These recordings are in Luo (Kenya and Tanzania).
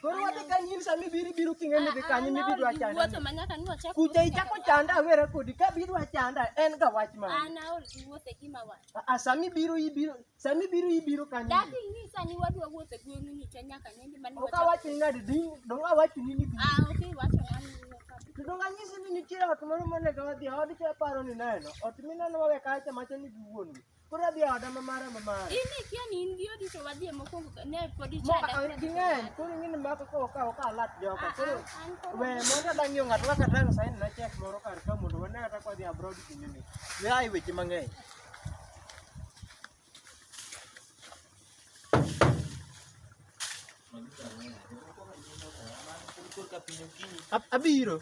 Koro wadhi ka nyim sama ibiro ibiro king'eni dhi kanyo mibidwa chanda. Kuja ichako chanda awera kodi ka bidwa chanda en ga wach ma. An aol gi wuothe gima wach. A sami biro ibiro sami biro ibiro kanyo. Dadi nyisa ni wadwa wuothe gweng'u ni to nyaka nende mani. Oka wach ni ngadi ding do wa wach ni ni. Ah okay wach ngani. Kendo nganyisi ni nitie ot moro monego wadhi odi to paro ni neno. Ot mineno wawe kacha macha ni giwuon. Koro adhi oda ma mara ma mara. In ikia ni in gi odi to wadhi e mokwongo ka- ne pod Mo ichada. a- a- ging'eny koro ing'eni mako ko ka ka alat joka koro An koro- we mondo adang' yo ng'ato kaka tang' saini na chek moro kar ka mondo wane kata kwa dhi abroad kinde ni. We ai weche mang'eny. Ab- Abiro.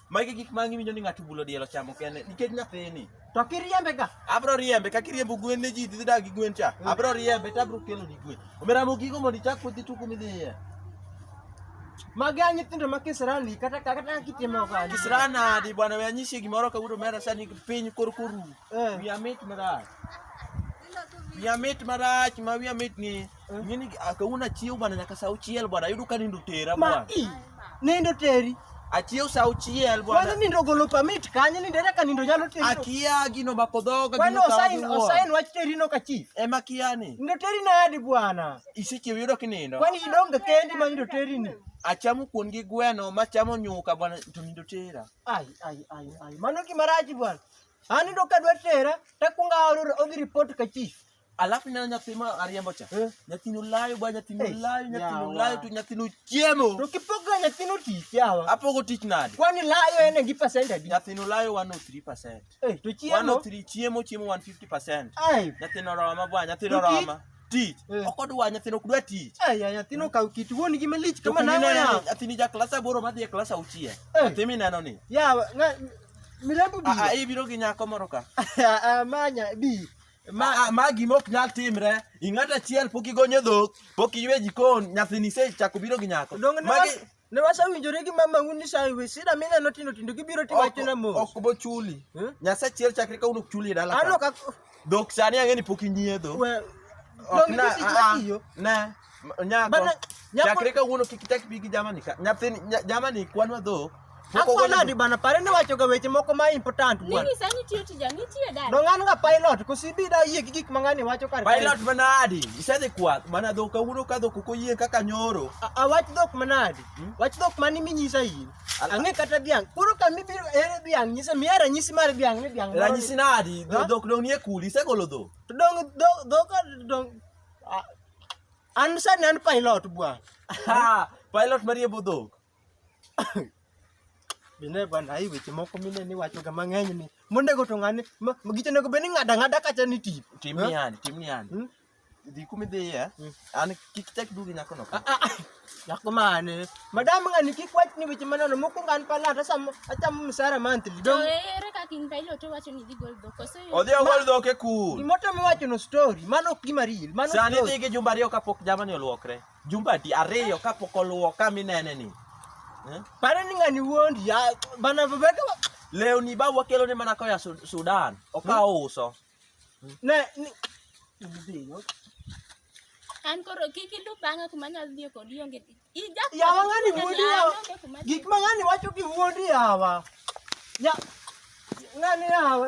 Magi gik ma ng'iwinjo ni ng'ato bulo diel ochamo kende nikech nyathini. To kiriembe ga. Abro riembe ka kiriembo gwen ne ji dhi dak gi gwen cha. Mm. Abro riembe to abro kelo ni gwen. Omera mo gigo mondo ichak kodhi tuku midhiye. Magi a nyithindo ma kisirani kata kata kitimo ga. Kisirani adi bwana we anyisi gimoro kawuono mera sani piny kor koru. Eh. Wiya mit marach. Wiya mit marach ma wiya mit ni. Mimi akauna ah, chiu bwana nyaka saa uchiel bwana yudo ka nindo tera bwana. Nindo teri. Achiew saa uchiel bwana. Kwani nindo golo permit kanye nindo era ka nindo nyalo teri. Akia gino makodhoga gino. Kwani osain osain wach teri no ka chief. Ema kiani. Nindo teri na adi bwana. Isichiew yudo kinindo. Kwani idonge kendi ma nindo teri ni. Achamo kuon gi gweno machamo nyuka bwana to nindo tera. Ai ai ai ai. Mano gimaraji bwana. Anindo kadwa tera takunga odhi report ka chief. Alafu nina nyathi ma ariembo cha. Eh. Nyathino layo bwa nyathino eh, layo nyathino layo to nyathino chiemo. To kipoga nyathino tich yawa. Apogo tich nade? Kwani layo ene gi percent adi? Nyathino layo 103%. Eh, to chiemo. 103 chiemo chiemo 150%. Ai. Nyathino roma bwa nyathino roma. Tich. Eh. Ok odwa nyathino ok dwa tich. Ai ya nyathino kaw kit wuon gi malich kama na ya. Nyathini ja klasa boro ma dhi e klasa uchiel. Eh. Nyathimi neno ni. Yawa, milambo bi. Ah, ah, ibiro gi nyako moro ka. Ah, ah, manya bi. ma, a- ma gima ok nyal timre ing'at achiel pok igonyo dhok pok iywe jikon nyathini isechako biro gi nyako Donge ne Magi- was- ne wasewinjore gi mamau ni sa iwe sida mineno tindo tindo gibiro ok- tiwachona mos. ok bochuli Eh? nyasaye achiel chakre kawuono ok chuli e dala Ano ka. ka dhok sani ang'e ni pok inyiedho We- Ok Donge na- gisi ah, ah, tiyo. ne Nyako. Bana, nyako- Chakre kawuono kik ichak ibi gi jamani ka. Nyathini nya- jamani kwanwa dhok. Pok Akwa ogolo nadi dhok. bana pare ni wacho ga weche moko ma important bwana. Nini sani tiyo tija nitie dada. No ng'an ga pilot kusibi da yie gi gik ma ng'ani wacho kar kae. Pilot manadi. Isedhi kwath mana dhok kawuono ka dhok ok oyie kaka nyoro. A- a wach dhok manadi. Hmm? Wach dhok mani minyisa in. Al- Ang'e kata dhiang'. Koro ka mibiro ere dhiang' nyisa miya ranyisi mar dhiang' ni dhiang'. moro Ranyisi ni- nadi? Ha? Dhok dong nie kuli isegolo dhok. To dong dho- dhok dong Ah, an sani an pilot bwana. Ah, pilot marie budhok. Bine bwana hii weche moko mine ni wacho ga mang'eny ni. Monde go to ng'ani ma- ma gicho nego beni ng'ada ng'ada kacha ni tip. Tim Eh? yani, tim yani. Hmm? Dhi kumi dhiye. Hmm. An kik tek dugi nyako no. Ah, ah, ah. Yako mane. Madam nga nikikwach ni weche maneno moko ngan pala hata sam acha msara monthly. To Dong. ere kaka in pailo to wacho ni dhi gol dhok. Koso in- Odhi ogol dhok e kul. Gimoto miwacho no story, mano ok gima real, mano Sani story. dhi gi jumba ariyo kapok jamani olwokre. Jumba di ariyo kapok olwok ka minene ni. Eh? Pare ni ngani wuondi, ya bana babeka Lewni ba wakelo ni mana koya Su- Sudan. Okawo uso. Ne ni idhiyo. An koro kik ilu bang'a kuma nyalo dhiyo kod ionge tich. Ija Yawa ng'ani wuondi yawa. Gik ma ng'ani wacho gi wuondi yawa. Ya ng'ani yawa.